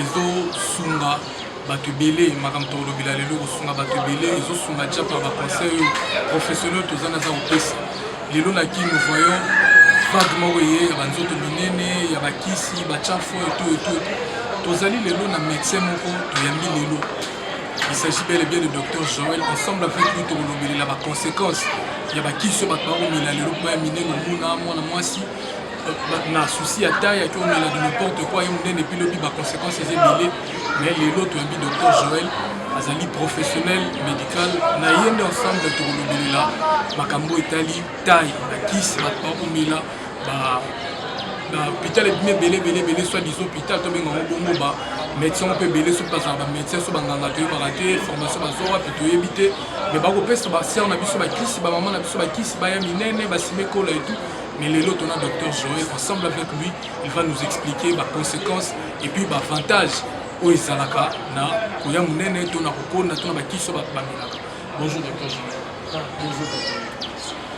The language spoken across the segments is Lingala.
ezosunga bato ebele makambo tokolobela lelo ekosunga bato ebele ezosunga tia par baconseil oyo professionnel toza naza kopesa lelo na kin nous voyons vague moko eye ya banzoto minene ya bakisi bacharfo eto eto tozali lelo na médecin moko toyambi lelo il s'agit bel et bien de docteur joel ensemble avec lui tokolobelela baconséquence ya bakisi oyo bato bakomela lelo mpo ya minene omona mwana mwasi na souci ya taille ake omela de n'importe quoi ye monene epi lobi baconséquence eza ebele mais lelo toyambi docteur joel azali professionnel médical na ye nde ensemble tokolobelela makambo etali taille na kisi bato bakomela ba na hôpital ebimi ebele ebele ebele soit disant hôpital tobenga yango bongo ba médecin mpe ebele soki bazala bamédecin so banganga toyebaka te formation bazo wapi toyebi te mais bakopesa basere na biso bakisi bamama na biso bakisi baya minene basime ekola etout Mais les autres, on a Dr Joël, ensemble avec lui, il va nous expliquer les conséquences et puis les avantages oyo ezalaka na koya monene to na kokonda to na bakiso bamelaka bonjour docteur ah, bonjour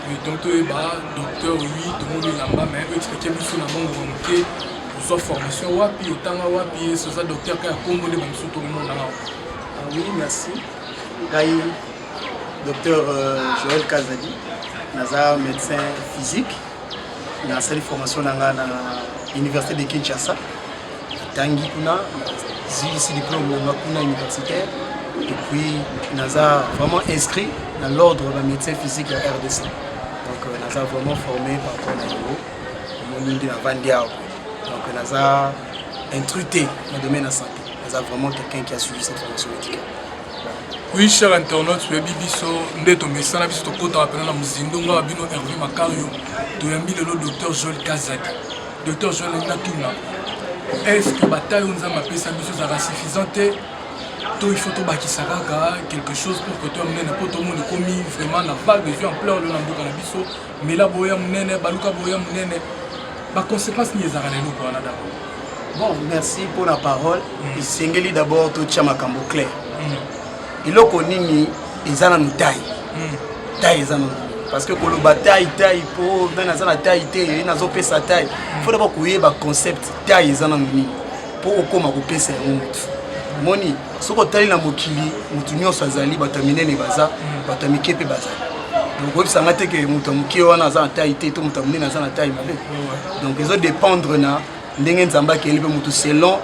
oui donc toyeba docteur oui tomoni elamba mais oexplike biso na mongo ya moke ozwa formation wapi otanga wapi esi oza docteur kaka ya kombo nde bamisu tokomonana ah oui merci ngai Docteur euh, Joël Kazadi, naza médecin physique, nasali formation na nga na Université de Kinshasa. Tangi kuna zilisi diplôme na nga kuna universitaire et puis naza vraiment inscrit dans l'ordre de médecin physique ya RDC. Donc euh, naza vraiment formé par rapport na yango omoni nde navandi awa donc naza intrute na domaine ya santé naza vraiment quelqu'un qui a suivi cette formation médicale Oui, cher internaute, toyebi biso nde tomesana biso tokotaka mpena na mozindo ngai bino herve makario toyambi lelo docteur joel kazadi docteur joel alingi natuna est ce que bataille oyo nzambe apesa biso ezalaka suffisant te to il faut tobakisa kaka quelque chose pour kotoya monene mpo tomoni ekomi vraiment na vague ezwi ampleur lelo na mboka na biso mela boye ya monene baluka boye ya monene baconséquence nini ezalaka na eloko wana dabord bon merci mpo na parole mm. esengeli dabord totya makambo clair mm. eloko nini eza na motai mm. tai eza na parce que koloba tai tai mpo ngai naza na tai te ye nazopesa tai mm. fo dabord koyeba concept tai eza na nini mpo okóma kopesa yango motu moni soki otali na mokili motu nyonso azali bato ya minene baza bato ya mike mpe bazali donc oyebisa nga te ke moto ya moke wana aza na tai te to moto ya monene aza na tai mabe donc ezo dépendre na ndenge nzambe akeli mpe motu selon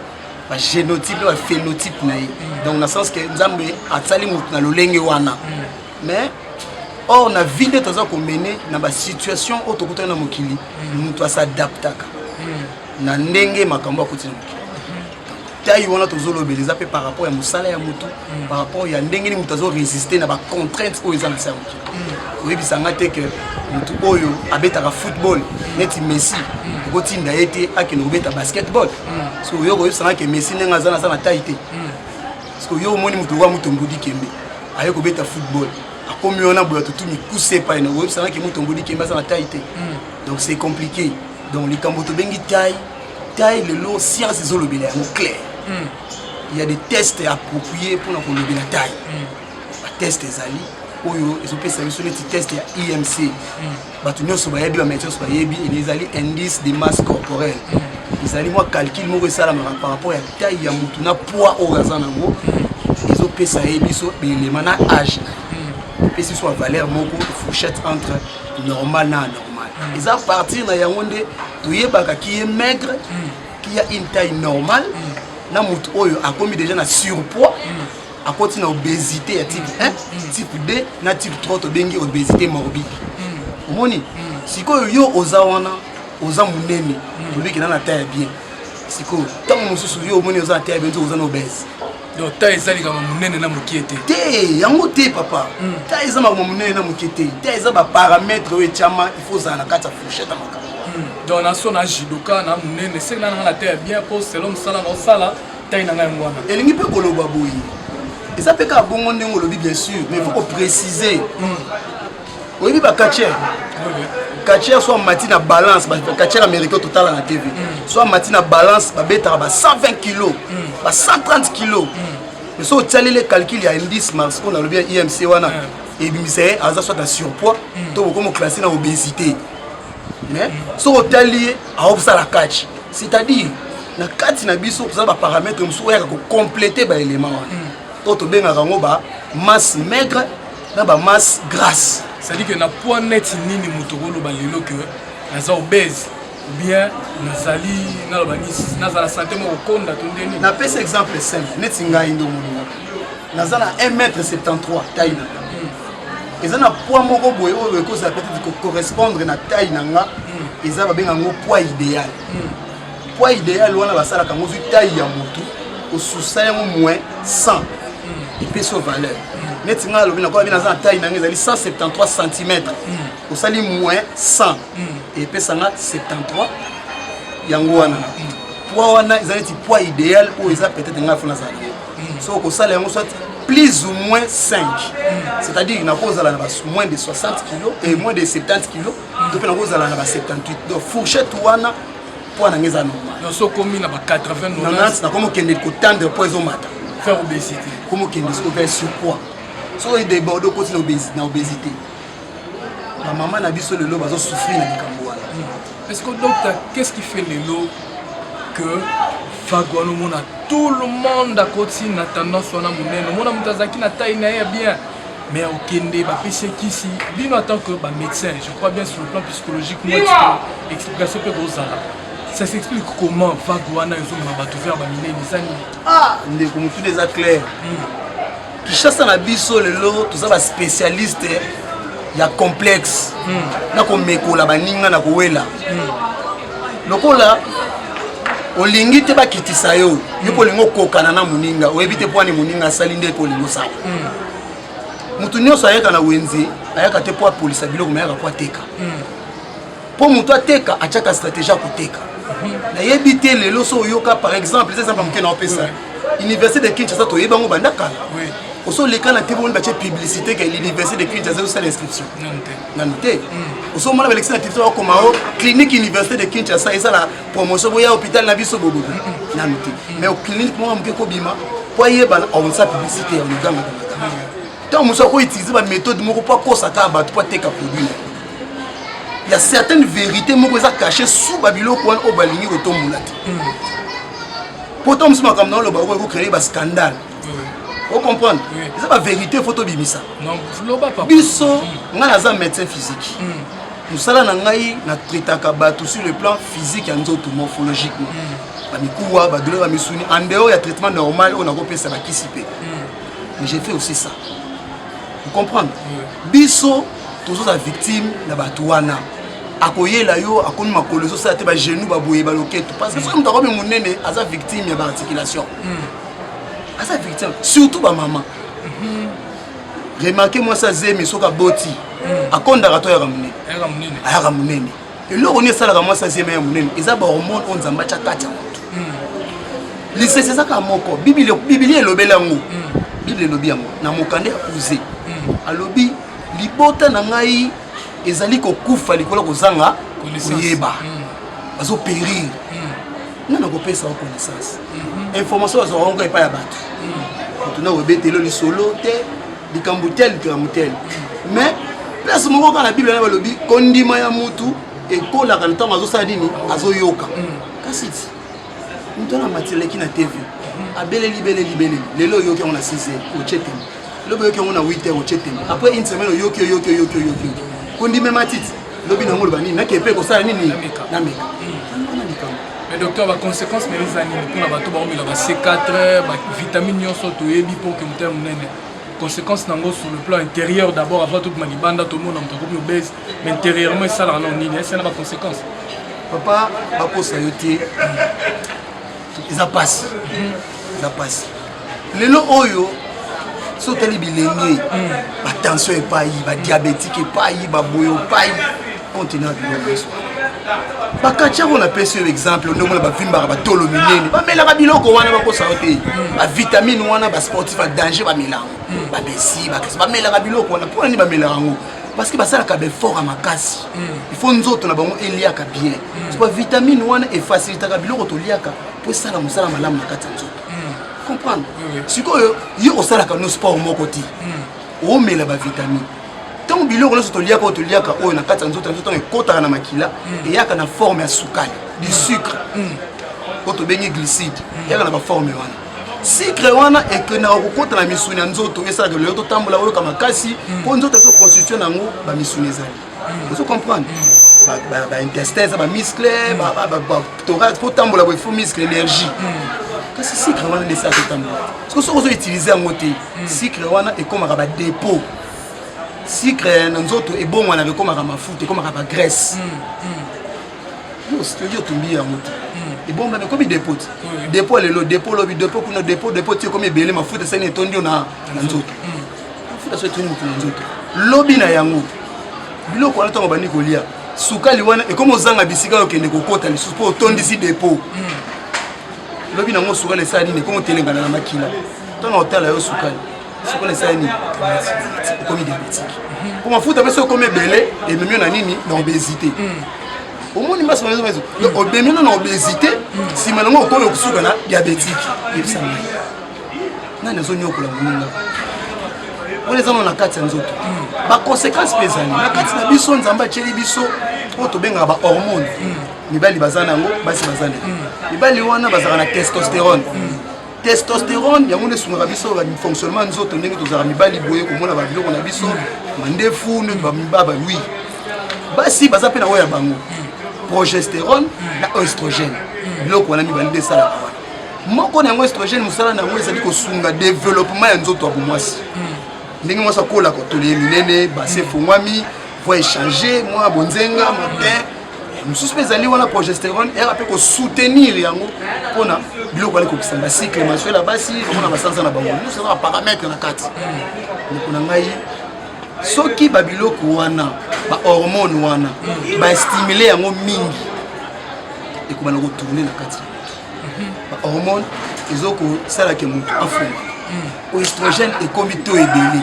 bagénotype mpe baphénotype na ye donc na sens ke nzambe asali motu na lolenge wana mais or na vie nde toza komene na basituation oyo tokutani na mokili motu asadaptaka na ndenge makambo akoti na mokili taille wana tozolobela eza mpe par rapport ya mosala ya motu mm. par rapport ya ndenge nini moto azo résister na bacontrainte oyo eza na se ya mokili mm. oyebisa nga te ke motu oyo abetaka football neti messi mm. okotinda ye te akende kobeta basketball so oyo koyebisa nga ke messi ndenge aza naza na taille te parce que yo omoni moto okoya moto mbudi kembe aye kobeta football akomi wana boya tutu mikuse epai na oyebisa nga ke moto mbudi kembe aza na taille te donc c'est compliqué donc likambo tobengi taille tai lelo science ezolobela yango claire mm. ya des tests approprié mpona kolobela tai mm. bateste ezali oyo ezopesa biso neti test ya imc mm. bato nyonso bayebi bameti nyonso bayebi ezali indice de masse corporelle mm. ezali mwa calcul moko esalamaka par rapport ya tai ya motu na poids oyo aza nango mm. ezopesa ye biso belema na age na ye epesi biso bavaleur moko fourchette entre normal na anormal mm. eza partir na yango nde toyebaka ki ye maigre mm. ki ya une taille normale mm. na moto oyo akomi déjà na surpoids akoti na obésité ya type 1 type 2 na type 3 tobengi obésité morbide omoni sikoyo yo oza wana oza monene olobiki na na taille ya bien sikoyo ntango mosusu yo omoni oza na taille ya bien oza na obèse donc ta eza likambo monene na mokie te te yango te papa hmm. ta eza makambo monene na mokie te ta eza baparametre oyo etyama il faut ozala na kati ya fourchette ya makambo hmm. donc naso na jidoka na monene seki na nanga na te ya bien mpo selo mosala na osala tai na ngai yango wana elingi mpe koloba boye eza mpe kaka bongo ndenge olobi bien sûr mais faut koprécise hmm. oyebi ba catcheur catcheur soit mati na balance ba catcheur américain totala na tv mm. soit mati na balance babetaka ba 120 kilos mm. ba 130 kilos mm. mais soki otialeli calcul ya indice mars oyo nalobi ya imc wana ebimisa ye aza soit na surpoids to bokomi oklasse na obésité mais soki otali ye aokosala catch c'est-à-dire na kati na biso toza baparamètre mosusu oyaka kocomplete baélément wana to tobengaka yango ba masse maigre na ba masse grasse c'est-à-dire que na poids net nini moto okoloba lelo que naza obèse bien nazali naloba nisi nazala sante moko konda to ndeni napesa exemple simple neti ngai nde omoninga naza na 1 mètre 73 tai na nga hmm. eza na poids moko boye oyo ekozala peut-être kocorrespondre na tai na nga hmm. eza babenga yango poids idéal hmm. Poids idéal wana basalaka yango vu taille ya motu osusa yango moins 100 epesi yo valeur neti ngai alobi nakola bino aza na taille na ngai ezali 173 cm osali moins 100 epesa nga 73 yango wana poids wana eza neti poids idéal oyo eza peut-être ngai fo nazala yango so okosala yango soit plus ou moins 5 c'est-à-dire nakozala na moins de 60 kilo et moins de 70 kilo to mpe nakozala na ba 78 donc fourchette wana poids na ngai eza normal nyonso okomi na ba 80 nanasi nakomi okende kotandre poids ezomata faire obésité komi okende soki oza surpoids soki odeborde okoti na obésité bamama na biso lelo bazosouffrir na likambo wana hmm. est ce que docteur qu'est ce qui fait lelo que vague wana omona tout le monde akoti na tendance wana monene omona moto azalaki na taille na ye ya bien mais okende bapesi ekisi bino en tant que bamédecin je crois bien sur le plan psychologique moi explication mpe kozala ça s'explique comment vague wana ezomema bato vers baminene eza nini ah ndeko motuna eza claire hmm. kishasa na biso lelo toza baspécialiste ya complexe hmm. na komekola baninga na kowela hmm. lokola olingi te bakitisa yo yo mpo olingi okokana na moninga oyebi te mpwani moninga asali nde ekolingi osala moto hmm. nyonso ayaka na wenze ayaka te mpo apolisa biloko mayaka mpo ateka mpo hmm. moto ateka atyaka stratégie ya koteka hmm. nayebi te lelo so oyoka par exemple eza exemple moke na opesa université de kinshasa toyebi yango banda kala osolekana te boni batye publicité ke l'université de kinshasa ozosala inscription nanu te ozomona balekisi na territoire okoma o clinique université de kinshasa esala promotion boya hôpital na biso bobobo nanu te mais clinique moko moke ekobima mpo ayebana aonsa publicité ya luganga ntango mosusu akoutilize baméthode moko mpo akosaka bato mpo ateka produit na il y a certaines vérités moko eza caché sous babiloko wana oyo balingi kotombola te pourtant mosusu makambo na oloba okoki kocreye bascandale ocomprendre eza baverité fo tobimisa biso hmm. ngai naza médecin physique hmm. mosala na ngai na traitaka bato sur le plan physique ya nzoto morphologiquement hmm. bamikuwa badouleur ya misuni en dehors ya traitement normal oyo nakopesa bakisi mpe mais j'ai fait aussi ça vous comprendre biso tozozala victime na bato wana akoyela yo akomi makolo ezosala te bagenou baboye baloketo parce que soki moto akomi monene aza victime ya baarticulation aza verité surtout ba maman mhm. remarke mwasi azemi soki aboti mhm. akondaka to ayaka monene ayaka monene eloko nini esalaka mwasi azemi ya monene eza bahormone oyo nzambe atya kati ya moto mhm. lisese ezaka moko bibilia elobeli yango biblia elobi yango na mokanda ya kuze alobi libota na ngai ezali kokufa likolo kozanga koyeba bazoperire nani akopesa yo connaissance mhm. information azwaka yango epai ya bato moto na obetelo lisolo te likambo te likambo te mhm. mais place moko kaka na bible na balobi kondima ya motu ekolaka na ntango azosala nini azoyoka mhm. kasi ti moto wana matileki na tv abeleli beleli beleli lelo oyoki yango na 6 otie te lobi oyoki yango na 8 heures otie tembe après une semaine oyoki oyoki oyoki oyoki kondime matiti lobi na yango oloba nini nakee mpe kosala nini na meka mais docteur baconséquence na eza nini mpona bato baomela ba c4 bavitamine nyonso toyebi mpo ke motema monene conséquence na yango sur le plan intérieur d'abord avant tout na libanda tomona moto akomi obese mais intérieurement esalaka nao nini ese na baconséquence papa bakosa yo te eza mpasi mhm. eza mpasi lelo oyo so otali bilenge hmm. batension epai badiabetike epai baboyo epai continent biloko esu bakati yango napesi yo exemple ndenge na bavimbaka batolo minene bamelaka biloko wana bakosa yo te hmm. bavitamine wana basportif ya danger bamelaka hmm. babesi bakesi bamelaka biloko wana mpo na nini bamelaka yango parce que basalaka baeffort ya makasi il faut nzoto na bango eliaka bien vitamine wana efacilitaka biloko toliaka mpo esala mosala malamu na kati ya nzoto hmm. comprendre sikoyo yo osalaka no sport moko te hmm. omela bavitamine ntango biloko nyonso toliaka oyo toliaka oyo na kati ya nzoto ya nzoto ntango ekotaka na makila hmm. eyaka na forme ya sukali du sucre oyo tobengi glycide eyaka na baforme wana sikre wana ekendaka kokota na misuni ya nzoto esalaka lelo totambola oyoka makasi mpo nzoto ezoconstitue na yango bamisuni ezali ozo comprendre baintestin eza bamiscle thorax mpo tambola boye fo miscle énergie hmm. kasi sucre wana nde esala totambola soki soki ozo utilise yango te hmm. sucre wana ekomaka badépôt sucre na nzoto ebongwanaka ekomaka mafuta ekomaka bagraisse hmm, soki otumbi yango te ebongwana ekomi dépôt te dépôt lelo dépôt lobi dépôt kuna dépôt dépôt ti ekomi ebele mafuta esani etondi yo na nzoto mafuta so etuni motu na nzoto lobi na yango biloko wana ntango bandi kolia sukali wana ekomi ozanga bisika oyo okende kokota lisusu mpo otondisi depo hmm. lobi nango sukali esala nini ekomi otelengana na makila ntango otala yo sukali sukali esala nini okomi diabetike mpo mafuta mpe soki okomi ebele ememi yo na nini na obesité hmm. omoni mbasi maison maison obemi no na obesité nsima nango okomi okosuka na diabétique yebisa ngai nani azonyokola moninga wana eza na kati ya nzoto baconséquence mpe ezali na kati na biso nzambe atyeli biso oyo tobengaka bahormone mibali baza na yango basi baza na mibali wana bazalaka na testosterone testosterone yango nde esungaka biso fonctionnement ya nzoto ndenge tozalaka mibali boye komona babiloko na biso mandefu nde bamibaba wi basi baza mpe na oyo ya bango progesterone na oestrogène biloko wana mibali nde esalaka wana moko na yango estrogène mosala na yango ezali kosunga développement ya nzoto ya bomwasi hmm. ndenge mwasi akola kotole ye minene base hmm. efongwami voi echange mwa bonzenga matin hmm. mosusu mpe ezali wana progesterone era mpe kosoutenir yango mpona biloko bali kokisa bacycle mensuel ya basi omona basanza na bango nyonso eza baparametre na kati ndeko na ngai soki babiloko wana bahormone wana baestimule yango mingi ekobana kotourne na kati ba hormone ezokosala ke motu afunga oestrogène ekomi to ebele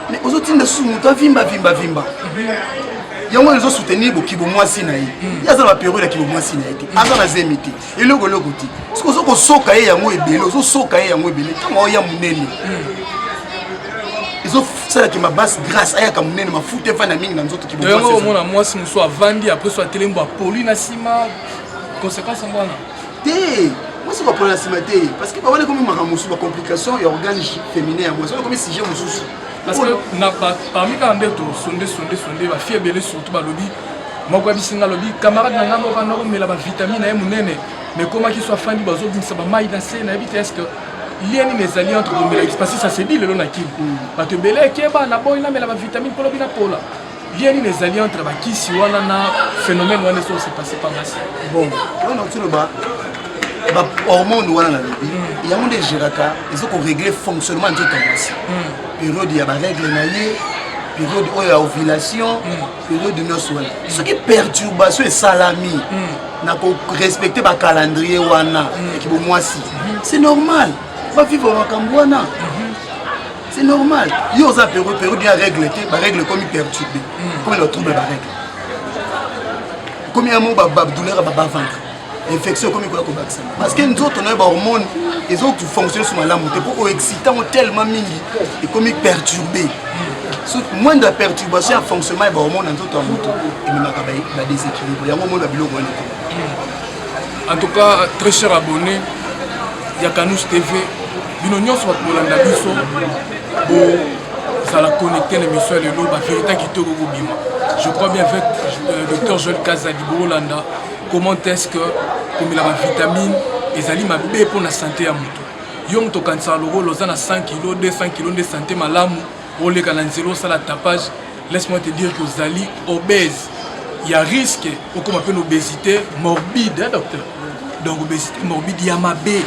mais ozotinda susu motu avimba vimba vimba yango wana ezosoutenir bokibo mwasi na ye ye aza na baperiode ya kibo mwasi na ye te aza na zemi te eloko eloko te soki ozo kosoka ye yango ebele ozosoka ye yango ebele ntango aoya monene ezosalaki mabase grace ayaka monene mafuta efanda mingi na nzoto kibo omona mwasi mosusu avandi apres so atelemi bapoli na nsima conséquence yango wana te mwasi bapola na nsima te parce que bawana ekomi makambo mosusu bacomplication ya organe féminin yango wana ekomi sujet mosusu parce que parmi kaka nde tosonde sonde sonde bafie ebele surtout balobi moko ya bisinga alobi camarade na ngai moko anda komela bavitamine na ye monene mais komaki so afandi bazobimisa bamai na se nayebi te estce lien nini ezali entre komela parce que ça se dit lelo na kini mm. bato ebele ekeba na boyi namela bavitamine mpo lobi napola Lien nini ezali entre bakisi wana na phénomène wana ezo se passer pa basi? Bon, wana okoki ba ba hormone wana na lobi mm. yango nde egeraka ezo ko régler fonctionnement nzoto ya mwasi mm. periode ya barègle na ye periode oyo ya ovulation mm. periode nyonso wana soki perturbation esalami na korespecte bacalendrier wana ya kibomwasi c'est normal bavivre makambo wana c'est normal yo oza peru peru dia règle te barègle ekomi perturbe ekomi na trouble barègle ekomi ya moko badouleur babavandre infection ekomi koya kobakisama parce que nzoto na yo bahormone ezofonctionne so malamu te mpo oexcite yango tellement mingi ekomi perturbe moindre perturbation ya fonctionnement ya bahormone na nzoto ya moto ememaka badeséquilibre yango omona biloko wana en tout cas très cher abonné ya canus tv bino nyonso bato bolanda biso bozala connecte na émission ya lelo baverité kitoko kobima je crois bien avec euh, docteur joel kazadi bolanda comment est ce que komela bavitamine ezali mabe mpo na sante ya moto yo moto okanisaka lokola oza na 100 kilo 200 kilo nde sante malamu oleka na nzela osala tapage laisse moi te dire que ozali obèse ya risque okoma mpe na obésité morbide hein, docteur donc obésité morbide ya mabe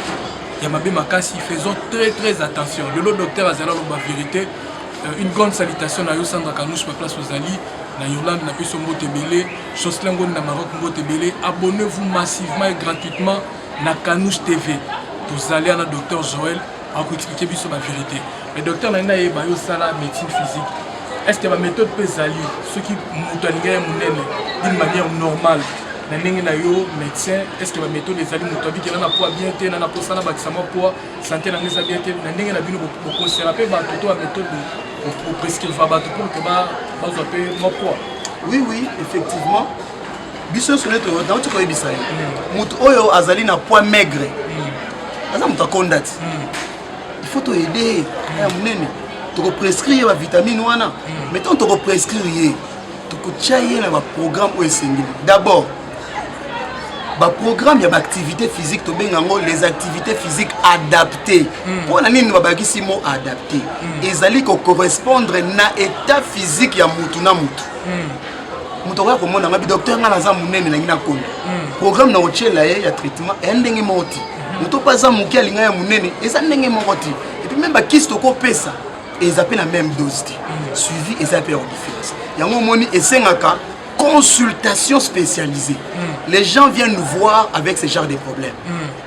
ya mabe makasi faisons très très attention lelo docteur azali aloba vérité euh, une grande salutation na yo sandra kanouche pa place ozali na yolande na biso mbote ebele jocelin ngoni na maroc mbote ebele abonnez vous massivement et gratuitement na kanouche tv tozali ana docteur joel akoexplike biso bavérité mais docteur na ngai nayeba yo osala médecine physique est ce que baméthode mpe ezali soki moto alinga ye monene d'une manière normale na ndenge na yo médecin est ce que baméthode ezali moto abikela na poids bien te na naposa na bakisa mwa poids santé na ngai eza bien te na ndenge na bino bokosela mpe bato to baméthode oprescriva bato pour ke bazwa mpe mwa poids oui oui effectivement biso nyonso nde nauti koyebisa ye moto oyo azali na poids maigre aza moto akonda ti il faut to aider ye ya munene toko prescrire ye ba vitamine wana hmm. mais tant toko prescrire ye tokotya ye na ba programme oyo esengeli d'abord baprogramme ya baactivité physique tobenga yango les activités physiques adaptées mpo hmm. na nini babakisi mo adapté hmm. ezali kocorrespondre na état physique ya motu na motu hmm. moto akoya komona nga bidoktere nga naza monene nangi na kondo hmm. programme na otyela ye ya traitement eya ndenge moko ti hmm. moto mpe aza moke alinga ya monene eza ndenge moko ti epuis meme bakisi tokopesa eza mpe na meme dose te hmm. suivi eza mpe ya kodifference yango omoni esengaka consultation spécialisée les gens viennent nous voir avec ce genre de problème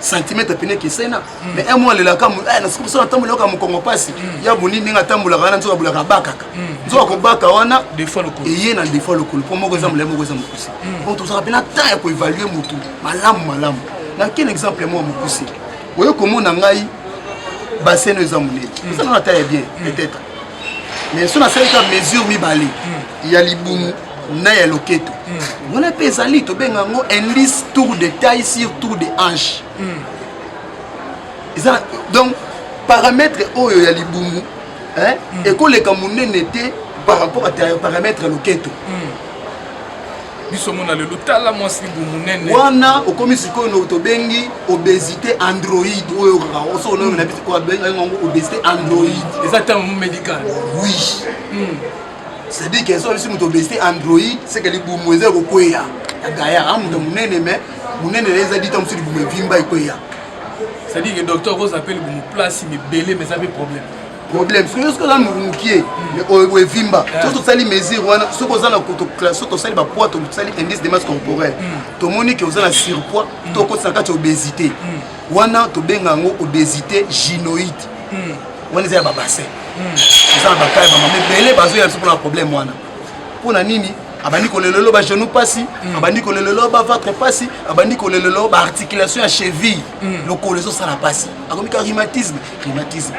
centimètre pene ekeseni na mm. mais un mois alelaka eh, na sikoyo sona ntambola yoka mokongo mpasi mm. ya boni ndenge atambolaka wana nzoka bolaka abakaka mm. nzoka kobaka wana eye na defa lokolo mpo moko eza molai moko eza mokuse donc tozaka mpe na temps ya koevalue motu malamu malamu na ken exemple mwa mokuse oye komona ngai basene eza monene eza nana ta ya bien peut-être mais so nasalika mesure mibale ya libumu na ya loketo mm. wana mpe ezali tobenga yango indice tour de taille sur tour de hanche mm. eza donc paramètre oyo ya libumu eh, mm. ekoleka monene te par rapport à paramètre ya loketo mm. biso mona lelo tala mwasi libu monene wana okomi sikoyo no tobengi obésité android oyo okaka oso onayo na biso obengi yango obésité android eza terme médical oui mm. c'est dit que soki moto obesite android seke libumu eza kokweya ya gaya a moto monene mais monene na eza dita mosusu libumu evimba ekweya c'est dit que docteur okoza mpe libumu place mibele mais eza mpe problème problème soki soki oza mokie oyo evimba soki tosali mesure wana soki oza na soki tosali bapoids tosali indice de masse corporelle tomoni ke oza na surpoids to okotisa kati obésité wana tobenga yango obesité gynoïde hmm. wana eza ya babassin hmm. eza na bakai bamama ebele bazoya biso mpona problème wana mpo na nini abandi kolelelo bagenou mpasi hmm. abandi kolelelo bavatre mpasi abandi kolelelo baarticulation ya cheville lokolo ezosala mpasi akomika rhumatisme rhumatisme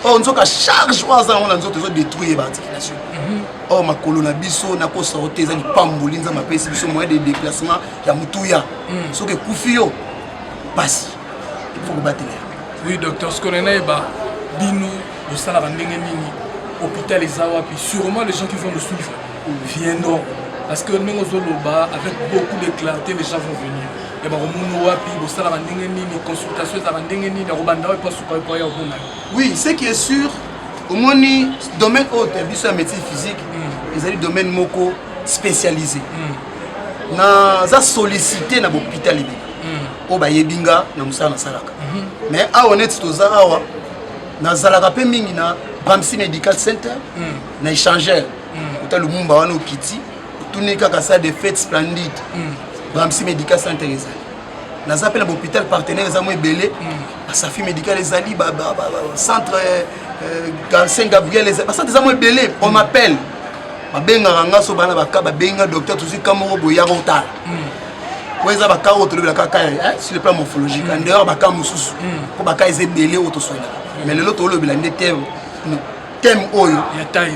or oh, nzoka charge oyo aza yango na nzoto ezodetruire baarticulation or oh, makolo na biso na kosorte eza lipamboli nzambe apesi biso moyen de déplacement ya motuya soki ekufi yo pasi faut kobatela oui docteur sikoyo na yeba bino bosalaka ndenge nini hôpital eza wapi sûrement les gens qui vont nous suivre viendront parce que ndenge ozoloba avec beaucoup de clarté les gens vont venir ya bakomona wapi bosalaka ndenge nini consultation ezalaka ndenge nini akobanda wapi asuka po ya komona oui ce qui est sûr omoni domaine oyo ya biso ya médecine physique hmm. ezali domaine moko spécialisé mm. naza sollicité na bopital ebele hmm. oyo bayebi nga na mosala nasalaka mhm. mais awa neti toza awa nazalaka mpe mingi na bamsi medical center hmm. na échangeur kota hmm. lumumba wana okiti otuni kaka sa de fete splendide bamsi medical center ezali naza mpe na bahopital partenaire eza mwa ebele basafi medical ezali centre euh, euh, saint gabriel bacentre eza mwa ebele on m'appelle babengaka nga so bana baka babengi nga docteur tozwi ka moko boye yaka otala hmm. po eza baka oyo tolobelaka ka eh, sur le plan morphologique en dehors baka mosusu po baka eza ebele oyo toswanaka mais lelo tolobela nde terme thème oyo ya taille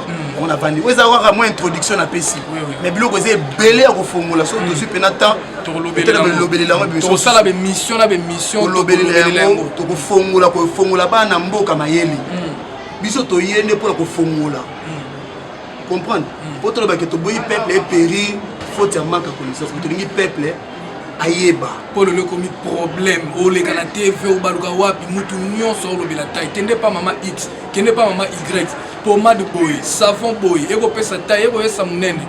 hmm. on avandi oyo eza kaka mwa introduction napesi mais biloko eza ebele ya kofongola soki hmm. tozwi mpena temps tolobelela yangotosala bemission na bemission tolobelela yango tokofongola kofongola bana mboka mayele hmm. biso toye nde mpona kofongola comprendre mpo tolobake toboyi peuple eperi faute ya manque ya connaissance mais tolingi peuple ayeba mpo lelo ekomi problème oleka na tv obaluka wapi mutu nyonso olobela tai kende pa mama x kende pa mama y pomade boye savon boye ekopesa tai ekoyesa monene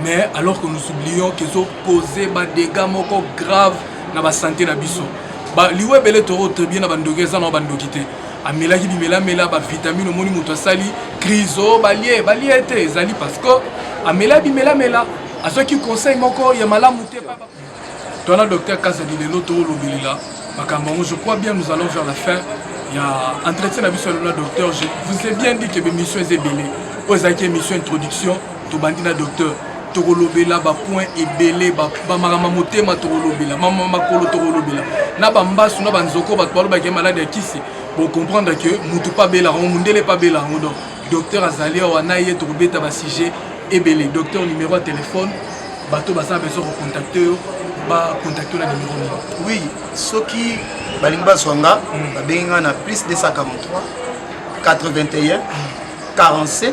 mais alors que nous oublions kezokose badega moko grave na basante na biso liwa ebele toro tribune na bandoki eza na bandoki te amelaki bimelamela bavitamine omoni moto asali crise o oh, balie balie te ezali parce que amela bimelamela azwaki conseil moko ya malamu te twana docteur kazadi lelo toolobelela makambo yango je crois bien nous allons vers la fin ya entretien na biso ya lola docteur je vous ai bien dit que bemission eza ebele oyo ezalaki émission introduction tobandi na docteur tokolobela bapoint ebele bamakambo motema tokolobela mama makolo tokolobela na bambasu na banzoko bato balobaki maladi ya kisi bocomprendre ke motu mpe abela yango mondele mpe abela yango donc docteur azali awa na ye tokobeta basujet ebele docteur numero ya telefone bato baza na besoin kocontacte yo bacontacte yo na numero nini oui soki balingi bazwa nga hmm. babengi nga na plus 243 81 47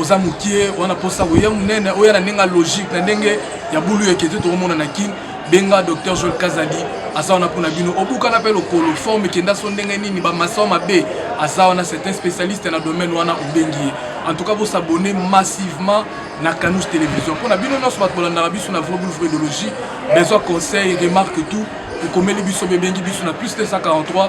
oza mokie wana mposa koya monene oya na ndenge ya logique na ndenge ya bulu eke te tokomona na kin benga docteur joel kazadi aza wana mpo na bino obukana mpe lokolo forme ekenda so ndenge nini bamaso mabe aza wana certain spécialiste na domaine wana obengi ye en tout cas bosabone massivement na canouche télévision mpo na bino nyonso bato bolandaka biso na vrai boule vrai idéologie besoin conseil remarque tout ekomeli biso bebengi biso na plus 243